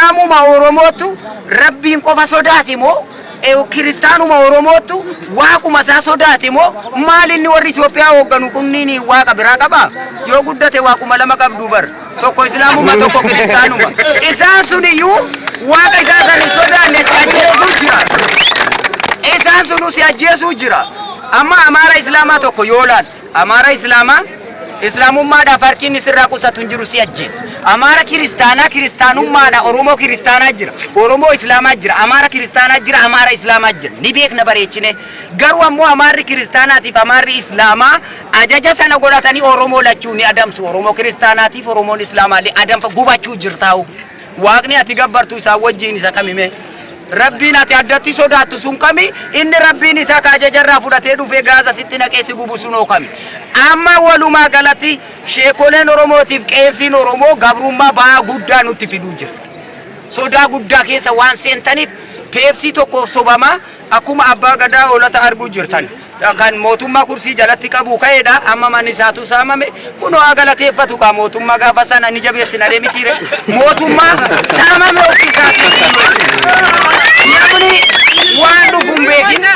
Islaamuma Oromoottu Rabbiin qofa sodaate moo Kiristaanuma Oromoottu Waaquma isaa sodaate moo maal inni warri Itoophiyaa hoogganu kunniin Waaqa biraa qabaa? Yoo guddate Waaquma lama qabdu bar. Tokko Islaamuma tokko Kiristaanuma. Isaan sun iyyuu Waaqa isaa san hin sodaanne si ajjeesuu jira. Isaan sunu si ajjeesuu jira. Amma Amaara Islaamaa tokko yoo laalte. Amaara Islaamaa, Islaamummaadhaaf harki inni sirraa qusatu hin jiru si ajjeesa. Amaara Kiristaanaa, Kiristaanummaadha Oromoo Kiristaanaa jira, Oromoo Islaamaa jira, Amaara Kiristaanaa jira, Amaara Islaamaa jira. Ni beekna bareechinee. Garuu ammoo Amaarri Kiristaanaatiif Amaarri Islaamaa ajaja sana godhatanii Oromoo lachuu ni adamsu. Oromoo Kiristaanaatiif Oromoon Islaamaallee adanfa gubachuu jirtaa'uu. Waaqni ati gabbartu isaa wajjiin isa kami mee? Rabbiin ati addatti sodaattu sun kami? Inni Rabbiin isaa ka ajaja irraa fudhatee dhufee gaaza sitti naqee si gubu sunoo kami? Amma walumaa galatti sheekoleen Oromootiif qeesiin Oromoo gabrummaa ba'aa guddaa nutti fiduu jira. Sodaa guddaa keessa waan seentaniif peepsii tokkoof sobamaa Akkuma Abbaa Gadaa Hoolata arguu jirtan kan mootummaa kursii jalatti qabu ka'eedha. Amma manni isaatu saamame. Kunoo haa galateeffatu kaa mootummaa gaafa sana ni jabeessinaree mitiire. Mootummaa saamame ofii isaatiin. Namni waan dhufu hin beekin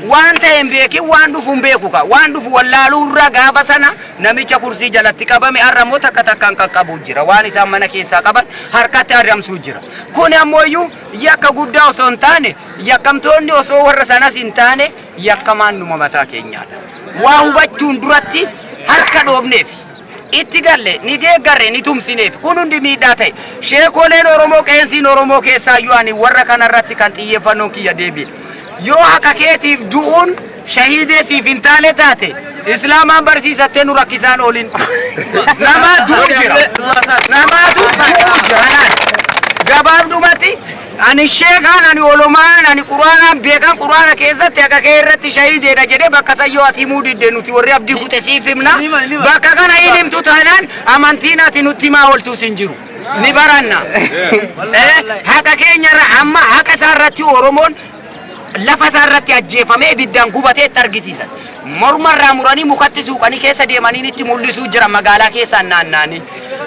waan ta'e hin beekin waan dhufu hin beeku kaa. Waan dhufu wallaaluu irra gaafa sana namicha kursii jalatti qabame har'a immoo takka takkaan qaqqabu jira. Waan isaan mana keessaa qaban harkatti adamsuu jira. Kun ammoo iyyuu yakka guddaa osoo hin taane Yakkamtoonni osoo warra sanas hin taane yakkamaan numa mataa keenyaadha. Waa hubachuun duratti harka dhoofneef itti galle ni deeggarre ni tumsineef kun hundi miidhaa ta'e. Sheekoleen Oromoo qeensiin Oromoo keessaayyuu ani warra kanarratti kan xiyyeeffannoon kiyya deebiidha. Yoo haqa keetiif du'uun shahiidee siif hin taane taate Islaamaan barsiisattee nu rakkisaan oolin. Namaa du'u jira. Namaatu du'u jira. Gabaabdumatti Ani sheekaan ani olomaa'aan ani qur'aanaan beekaan qur'aana keessatti haqa kee irratti shahiideedha jedhe bakka san yoo ati himuu didde nuti warri abdii kute siif himna bakka kana hin himtu taanaan amantiin ati nutti himaa ooltuus hin jiru ni baranna haqa keenya irra amma haqa isaa irratti oromoon lafa isaa irratti ajjeefamee ibiddaan gubatee itti argisiisan. Morma irraa muranii mukatti suuqanii keessa deemaniin itti mul'isuu jira magaalaa keessaan naannaanii.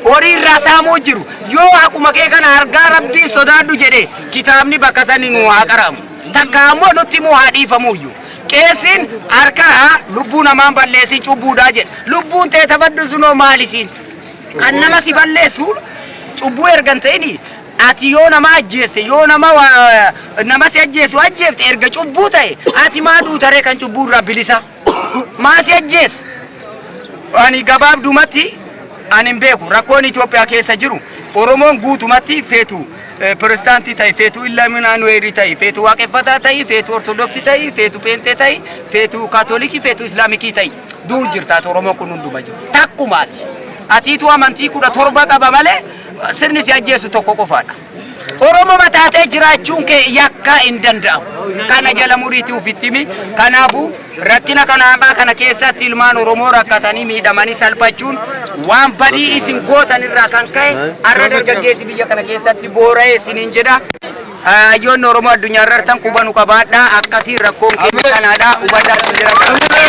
Horii irraa saamuu jiru. Yoo haquma kee kana argaa rabbiin sodaadhu jedhe kitaabni bakka sani nuu haa qaraamu. Takka ammoo nutti immoo haa dhiifamuuyyu. Qeessiin harka lubbuu namaan balleessiin cubbuudhaa jedha. Lubbuun tee tabaddu sunoo maalisiin? Kan nama si balleessu cubbuu ergan ta'inii Ati yoo nama ajjeeste, yoo nama nama si ajjeesu ajjeefte erga cubbuu ta'e, ati maa duuta ree kan cubbuu irraa bilisa? Maa si ajjeesu? Ani gabaabdumatti ani hin beeku rakkoon Itoophiyaa keessa jiru Oromoon guutumatti feetu pirezidaantii ta'e, feetu illaaminaanuweerii ta'e, feetu waaqeffataa ta'e, feetu ortodoksii ta'e, feetu peentee ta'e, feetu kaatolikii, feetu islaamikii ta'e du'u jirtaati Oromoon kun hunduma jiru. Takkumaati. Atiitu amantii kudha torba qaba malee sirni si ajjeesu tokko qofaadha. Oromoma taatee jiraachuun kee yakkaa hin danda'amu. Kana jala muriitii ofitti himi. Kanaafuu rakkina kana hamaa kana keessatti ilmaan Oromoo rakkatanii miidhamanii salphachuun waan badii isin gootan irraa kan ka'e har'a dargaggeessi biyya kana keessatti boora'ee isiniin jedha. Hayyoonni Oromoo addunyaarrartan quba nu qabaadhaa akkasiin rakkoon keenya kanaadha hubadhaa sin jedha galatoomaa.